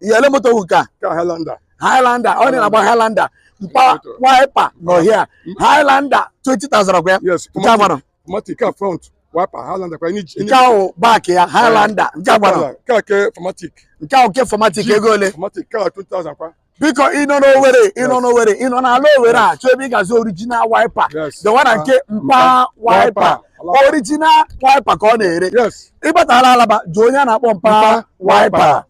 ihe ele moto wụ ka Highlander Highlander ọ na-agba Highlander mpa wiper nọ here Highlander 20,000 ọkwa ya yes nke a gbara automatic ka front wiper Highlander kwa ni nke ahụ back ya Highlander nke a gbara ka ke automatic nke ahụ ke automatic ego ole automatic ka 2000 kwa biko ị nọ n'Owere ị nọ n'Owere ị nọ n'ala Owere achọ ebe ị ga-azụ original wiper Yes. the one na nke Ah, mpa wiper, wiper Alaba. original wiper ka ọ na-ere yes ị batala Alaba jụọ onye a na-akpọ mpa Mpa wiper wiper.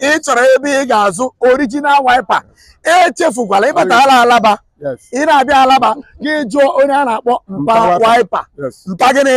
ị chọrọ ebe ị ga-azụ original wiper echefukwala ị batala Alaba ị na-abịa Alaba gị jụọ onye a na-akpọ mpa wiper mpa gịnị